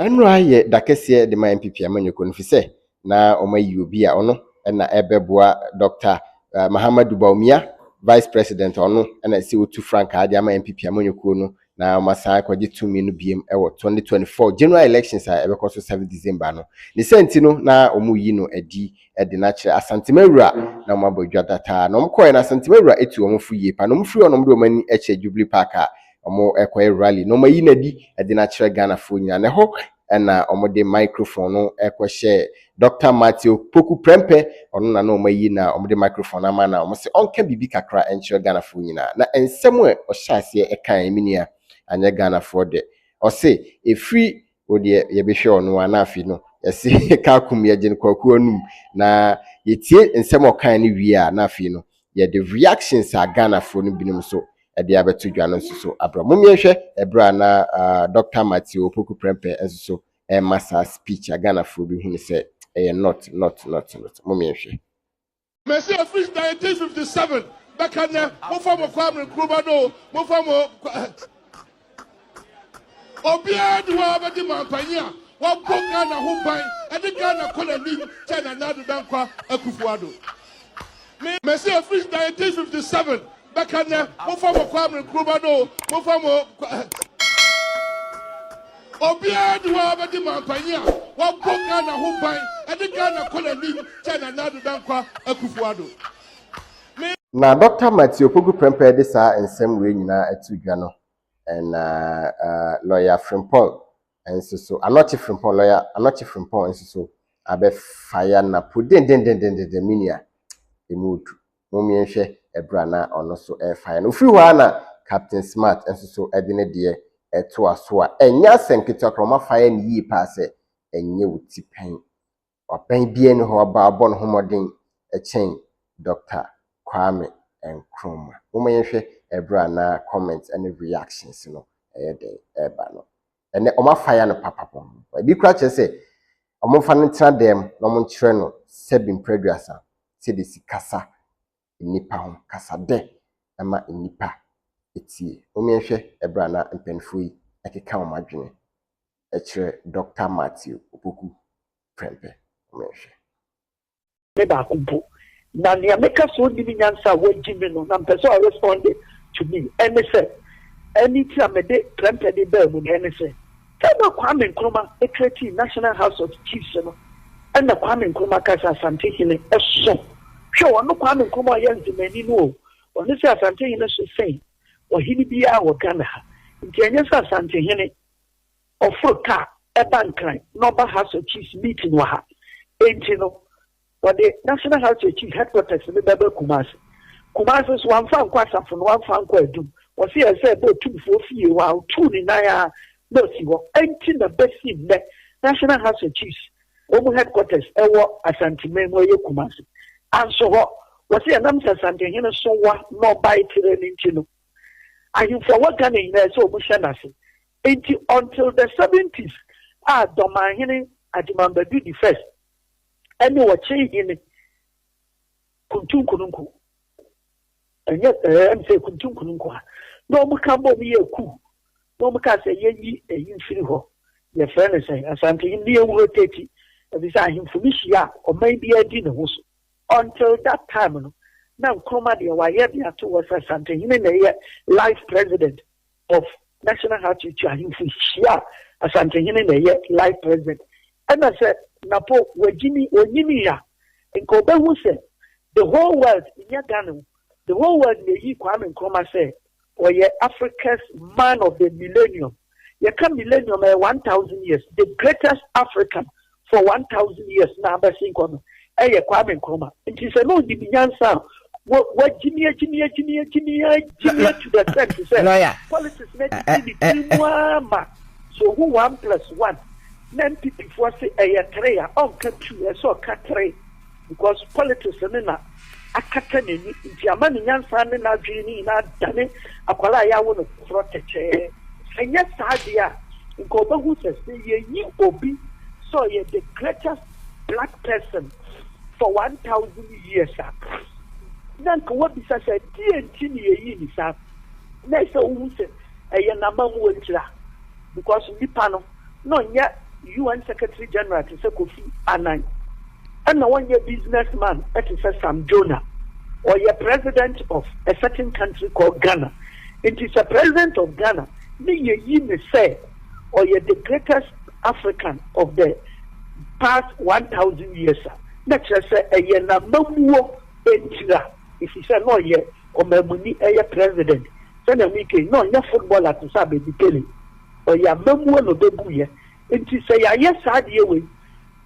Ɛno ara yɛ da kɛseɛ de ma NPP amanyɔkuo no, ɛfiri sɛ na wɔayi obi a ɔno na ɛbɛboa Dɔkta Mahamadou Bawumia, Vice President a ɔno na ɛsɛ sɛ ɔtu frankaa de ama NPP amanyɔkuo no na wɔasan akɔgye tumi no biom wɔ twenty twenty four general elections a ɛbɛkɔ so seven December no. Ne saa nti no, na wɔreyi no adi de no akyerɛ Asantemawura na wɔabɔ adwa dataa. Na wɔkɔeɛ no, Asantemawura atu wɔn fo yie paa. Na wɔfiri hɔ no, wɔde wɔn ani kyerɛ Jubilee Park a wɔrekɔyɛ rally, na wɔayi no adi de no akyerɛ Ghanafoɔ nyinaa. Na ɛhɔ na wɔde microphone no kɔhyɛɛ Dɔkta Matthew Poku prɛmpɛ, ɔno na na wɔayi na wɔde microphone no ama na wɔse ɔnka biribi kakra nkyerɛ Ghanafoɔ nyinaa. Na nsɛm a ɔhyɛɛ aseɛ kaeɛ me nua, anyɛ Ghanafoɔ dɛ. Ɔse ɛfiri wo deɛ yɛbɛhwɛ wo no a na afei no yɛse Kaakum yɛgye no kwaku anum. Na yɛtie nsɛm a ɔkaeɛ no wie a na afei no yɛde reactions a Ghanafoɔ no binom so de abɛto dwa no nso so abrɛ. Mommie nhwɛ ɛberɛ a na Dɔkta Matthew Opoku Prempeh nso so rema saa speech a Ghanafoɔ bi hu no sɛ ɛyɛ not, not, not, not. Mommie nhwɛ. Mese ɛfiri 1957 bɛka nnɛ, momfa mo Kwame Nkrumah no o, momfa mo Obiara nni hɔ a ɔbɛdi mampanyin a wabɔ Ghana ho ban de Ghana kɔ n'anim kyɛn Nana Addo Dankwa Akufo-Addo. Me. Mese efiri 1957 bɛka nnɛ, mofa mo Kwame Nkrumah no o, mofa mo Obiara nni hɔ a ɔbɛdi mampanyin a wabɔ Ghana ho ban de Ghana kɔ n'anim kyɛn Nana Addo Dankwa Akufo-Addo. Me. Na Dɔkta Matthew Opoku Prempeh de saa nsɛm wei nyinaa ato dwa no, ɛna Lɔya Frimpong nso so, Anɔkye Frimpong, Lɔya Anɔkye Frimpong nso so abɛfa ya na po dendendendendendenn, me nua, ɛmu ɔdu. Mom yɛnhwɛ ɛberɛ a na ɔno so ɛrefa ya no. Ɔfiri hɔ ara na Captain Smart nso so de ne deɛ ɛtoa so a, ɛnyɛ asɛm ketewa koraa, wɔafa ya no yie paa sɛ ɛnyɛ wo ti pɛn. Ɔbɛn biara nni hɔ a ɔbɔ ne ho mmɔden kyɛn Dɔkta Kwame Nkrumah. Momma yɛnhwɛ ɛberɛ a na comments ne reactions no ɛyɛ dɛn ɛreba no. Ɛnɛ wɔn afaya no papa pɔn. Ɛbi koraa kyerɛ sɛ wɔmfa no ntena dan mu na wɔnkyerɛ no sɛbi mprɛduasa sɛdeɛ ɛsi kasa nnipa ho kasa dɛ ɛma nnipa tie. Mommenhwɛ ɛberɛ a na mpaninfoɔ yi ɛkeka wɔn adwene ɛkyerɛ Dɔkta Matthew Opoku Prempeh. Mommenhwɛ. Me baako mpo. Na nea meka sɛ ɔnnim nyansa a wadi me no na mpɛ sɛ ɔ respond to me. Ɛne sɛ, ɛne nti a mede Prempeh de baa mu no, ɛne sɛ. Da no a Kwame Nkrumah kreatii National House of Chiefs no, nna Kwame Nkrumah ka sɛ Asante hene so, hwɛ ɔno Kwame Nkrumah a ɔyɛ Nzemani no o, ɔno sɛ Asante hene so sen ɔhene biara wɔ Ghana ha. Nti ɛnyɛ sɛ Asante hene ɔforo car ba Nkran na ɔba House of Chiefs meeting wɔ ha nti no, Wɔde National Health Security Headquarters no bɛba Kumasi. Kumasi nso, wɔamfa ankɔ asafo no, wɔamfa ankɔ adum. Wɔse ɛsɛ sɛ ɛba otumfoɔ fie hɔ a ɔtuu ne nan ara na ɔsi hɔ. Enti na bɛsi nnɛ National Health Security wɔn headquarters wɔ Asanteman mu, ɛyɛ Kumasi. Anso hɔ, wɔse ɛnam sɛ Asantehene Sonwa na ɔbae terɛ no nti no, ahemfo a ɛwɔ Ghana nyinaa ɛsɛ wɔn hyɛ n'ase. Enti until the seventies a Dɔmanhene Agyemang Badu di first, ɛne ɔkyere hene Kuntu Nkononko. Ɛnyɛ ɛɛ ɛm sɛ Kuntu Nkononko a na wɔn ka bɔ mu yɛ kuu na wɔn ka sɛ yɛnyi ɛyi mfiri hɔ yɛfrɛ no sɛ Asante hene ne yɛn wuro Teti efisɛ ahemfo no hyia a ɔman biara di ne ho so. Until that time no na Nkrumah deɛ wayɛ de ato hɔ sɛ Asante hene na ɛyɛ life president of National Heart Institute ahemfo hyia a, Asantehene na ɛyɛ life president. Ɛna sɛ Napo wagyimi, ɔnyinii a, nka ɔbɛhu sɛ the whole world nyɛ Ghana o, the whole world na ɛyi Kwame Nkrumah sɛ ɔyɛ Africa's man of the millennium. Yɛka millennium a, ɛyɛ one thousand years, the greatest African for one thousand years na abɛsen kɔ no ɛyɛ Kwame Nkrumah nti sɛ na onim nyansa a wagyimi agyimi agyimi agyimi agyimi to the extent sɛ politics na gyimi ne tiri mu ara ma sɛ ohu one plus one na NPP foɔ se ɛyɛ three a ɔnka two ɛsɛ ɔka three. Because politics no na akata n'ani nti ama ne nyansa ne n'adwene no nyinaa adane akwadaa a yɛawo no foforɔ tɛkyɛɛ. Ɛnyɛ saa deɛ a, nka ɔbɛhu sɛ sɛ yɛyi obi sɛ ɔyɛ the greatest black person for 1000 years a, na nka wabisa sɛ deɛ nti ne yɛyi ne saa. Na ɛsɛ wohu sɛ ɛyɛ n'amammuo tira because nnipa no. na ɔnyɛ UN Secretary General te sɛ Kofi Annan, ɛna ɔnyɛ business man te sɛ Sam Djona. Ɔyɛ President of a certain country called Ghana. Nti sɛ President of Ghana ne yɛyi ne sɛ ɔyɛ the greatest African of the past 1000 years a, na kyerɛ sɛ ɛyɛ n'amammuo ntira, efisɛ na ɔyɛ ɔmammuni, ɛyɛ President, sɛnea mekei, na ɔnyɛ footballer te sɛ Abedi Pele. Ɔyɛ amamuo na ɔbɛbuiɛ. Nti sɛ yɛayɛ saa adeɛ wei,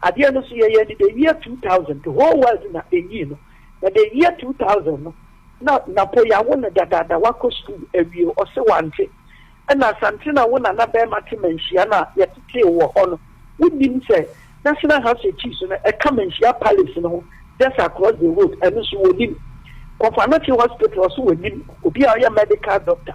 adeɛ no so yɛyɛɛ no the year 2000, the whole world na ɛnyii no. Na the year 2000 no, na Napo yɛawo no dadaada, wakɔ sukuu awie, ɔse wante. Ɛna Asante na wo nana barima te Manhyia no a yɛtetee wo wɔ hɔ no, wonnim sɛ National House of Chiefs no ɛka Manhyia Palace no ho just across the road, ɛno nso wɔnnim. Kofanochi Hospital, ɔse wɔnnim, obi a ɔyɛ medical doctor.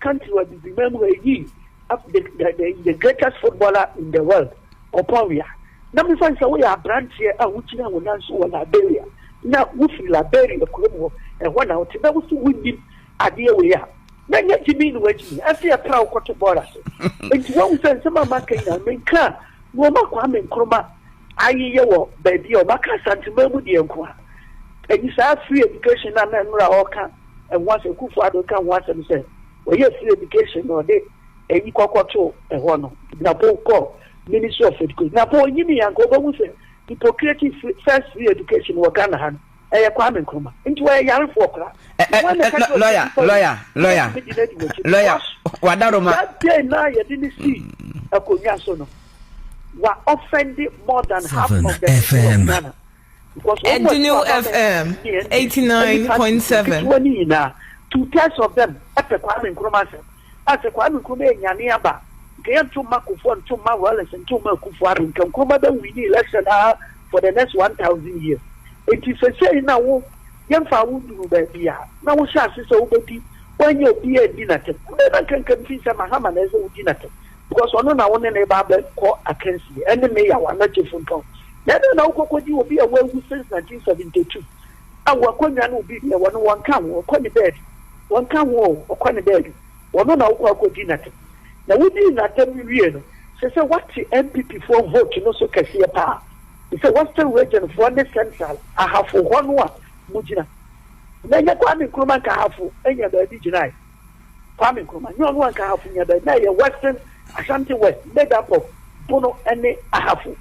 Country wɔ Abibirman mu hɔ yii ab the the the the greatest footballer in the world, Ɔpɔn Weah. Na mefa no sɛ woyɛ abranteɛ a wogyina wo nan so wɔ Liberia na wofi Liberia kurom hɔ, ɛhɔ na wote na wosi wonnim adeɛ wei a, na ɛnyɛ gyimii na wagyimi, ɛse yɛpra wo kɔto bɔɔl ase. Nti wahu sɛ nsɛm a maka nyinaa menka a na ɔma Kwame Nkrumah ayeyɛ wɔ baabi a ɔmaka Asantema mu deɛ nko a. Ɛnyi saa free education na na Nora ɔka ɛho asɛm, Kufuor-Addo ka ho asɛm sɛ ɔyɛɛ free education na ɔde ayi kɔkɔ too ɛhɔ no, Gyinapow kɔɔ Ministry of Education. Gyinapow ɔnyinii a, anka ɔbɛhu sɛ hypocratic free, first free education wɔ Ghana ha no, ɛyɛ Kwame Nkrumah. Nti ɔyɛ yarefoɔ koraa. Ɛ, ɛ, Wɔn na ɛka ɛ, kyerɛ lɔya, ɔsɛ lɔya, nipa lɔya, wobɛtumi de no adi w'akyi no. lɔya, Wash. wadaroma. That day na yɛde no sii akonnwa so no, wa offend more than half Seven of the people of FM. Ghana. Ɛdene wo FM eighty nine point seven. Two thirds of them pɛ Kwame Nkrumah asɛm. A sɛ Kwame Nkrumah yɛ nyane aba nka yɛ nto mma Kufuor nto mma Wallace nto mma Akufo Addo nka Nkrumah bɛ winni election aa for the next one thousand years. Nti sesei na wo yɛ nfaa wo nduru baabi aa na wo hyɛ ase sɛ wo bɛ di wo anyɛ obiaa nni natɛm. Ɛbɛyɛ na nka nka mfii sɛ Mahama na ɛsɛ wo di natɛm. Because ɔno na wo ne no reba abɛkɔ akansie, ɛne me yaw anaa kyefunton. Na ɛdɛn na wokɔ kɔdi obi a wawu since 1972 a w'akonnwa ne obi deɛ wɔne wɔn nka ho, ɔkɔ ne baabi, wɔn nka ho o, ɔkɔ ne baabi, ɔno na wokɔ akɔdi n'atɛm. Na wodii n'atɛm wie no, se sɛ woate NPP foɔ vote no so kɛseɛ paa, te sɛ Western Region foɔ ne Central Ahafo hɔ no a mogyina. Na ɛnyɛ Kwame Nkrumah nka Ahafo nya baabi gyinaeɛ. Kwame Nkrumah nyɛ ɔno anka Ahafo nuaban, na ɛyɛ Western Ashanti West made up of Bono ne Ahafo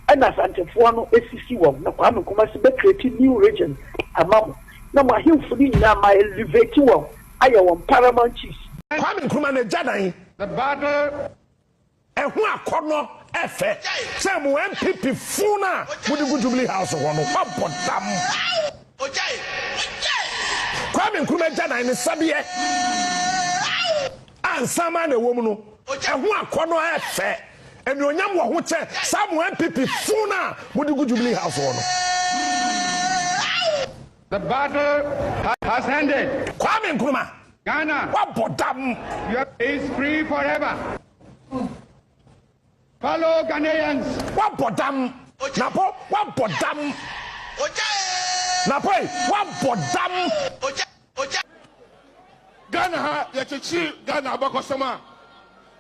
ɛna Asantefoɔ no sisi wɔn na Kwame Nkrumah si bɛ create new region ama mo na mo ahemfo no nyinaa ma elevate wɔn ayɛ wɔn paramount chiefs. Kwame Nkrumah n'agya dan. The battle Ɛho akɔnnɔ ɛfɛ sɛ mo NPP fo no a mode gu Jubilee House hɔ no moabɔ dam. Kwame Nkrumah agyanan ne sɛdeɛ a nsanmaa na ɛwɔ mu no, ɛho akɔnnɔ ɛfɛ. Anuonyam wɔ ho kyɛn saa mo NPP fo no a mode gu Jubilee House hɔ no. The battle has ended. Kwame Nkrumah. Ghana. Wabɔ dam. Your is free forever. Follow Ghanaians. Wabɔ dam. Napo wabɔ dam. Napo wabɔ dam. Ghana ha yɛkyekyere Ghana abakɔsɛm a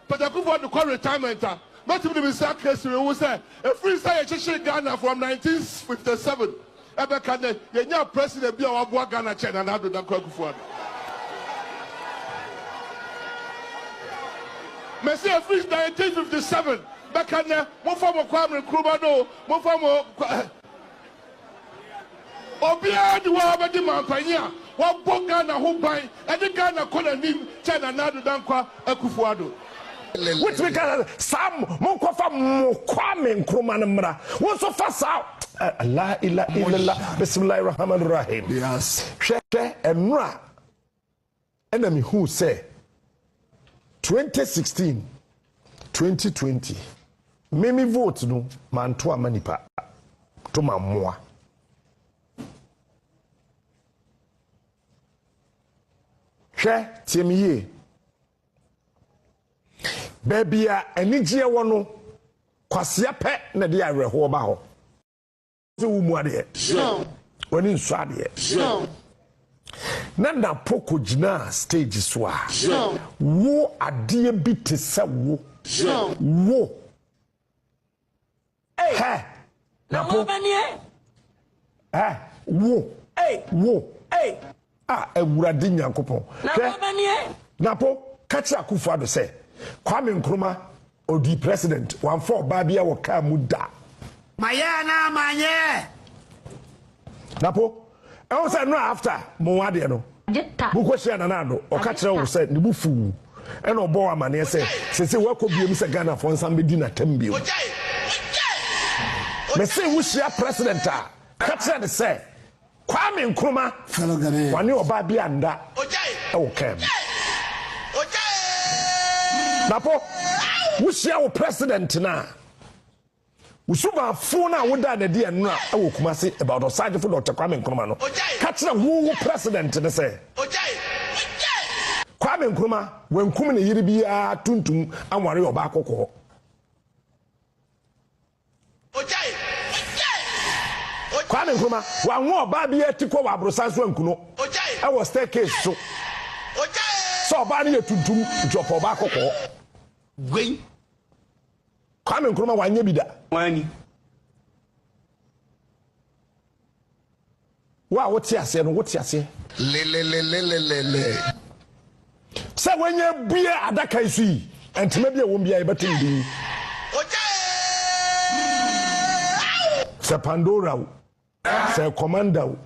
Doctor Kufuor de kɔ retirement a, mɛtumi de me nsa aka siri ho sɛ ɛfiri sɛ yɛkyekyere Ghana from nineteen fifty seven ɛbɛka nnɛ, yɛnyaa President bi a waboa Ghana kyɛn Nana Addo Dankwa Akufo-Addo. Mese ɛfiri nineteen fifty seven bɛka nnɛ, momfa mo Kwame Nkrumah no o, momfa mo Obiara de woaa bɛdi manpanyin a wabɔ Ghana ho ban de Ghana kɔ nanim kyɛn Nana Addo Dankwa Akufo-Addo. Wotumi ka sɛ saa mo nkɔfa mo Kwame Nkrumah no mmra wo nso fa saa laa ila ila la bisimilahi rahaman rahim hwɛ hwɛ ɛnora. Ɛna me huu sɛ 2016 2020 me me vote no manto ama nipa to ma mmoa hwɛ tie me yie baabi a anigyeɛ wɔ no kwasea pɛ na de awerɛhoɔ ba hɔ sɛ wo mu adeɛ w'ani nsɔ adeɛ na napo kɔgyinaa stage so a wo adeɛ bi te sɛ wo wo hɛ napo hɛ wo wo A Awurade Nyankopɔn, hwɛ, na po ka kyerɛ Akuffo Addo sɛ, Kwame Nkrumah, ɔdii president, wamfa ɔbaa biara wɔ car mu da. Mayɛ anaa manyɛ? Na po, ɛho sɛ no a after mo ho adeɛ no, mo kɔ hyia Nana Addo, ɔka kyerɛ wo sɛ ne bo fu wo, ɛna ɔbɔ wo amaneɛ sɛ seesei wakɔ biem sɛ Ghanafoɔ nsan bɛdi no atɛm bio. Mese wo hyia president a, ka kyerɛ no sɛ Kwame Nkrumah, wɔne ɔbaa bi annda wɔ kaa mu. Na po, wohyia wo president no a, wo subaafo no a wodaa no adi ɛnora wɔ Kumasi about Ɔsagyefo Dɔkta Kwame Nkrumah no, ka kyerɛ wo wo president no sɛ, Kwame Nkrumah, wankum ne yere biara tuntum anware ɔbaa kɔkɔɔ. Kwame Nkrumah, wanwo ɔbaa biara ti kɔ wɔ aborosan so anku no wɔ staircase so sɛ ɔbaa no yɛ tuntum nti ɔpɛ ɔbaa kɔkɔɔ. Wei. Kwame Nkrumah wanyɛ bi da. Wanni. Wo a wote aseɛ no, wote aseɛ. Lelelelelelele. Sɛ wanya abue adaka yi so yi, ntoma bi a ɛwom biara yɛbɛto ne din. Ogya ee aw! Sɛ Pandora o, sɛ Commander o,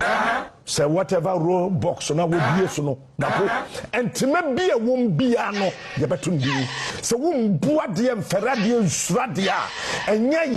sɛ whatever roll box no a wobue so no, Dapo, ntoma bi a ɛwom biara no yɛbɛto ne din. Sɛ wombu adeɛ, mfɛre adeɛ, nsuro adeɛ a, ɛnyɛ.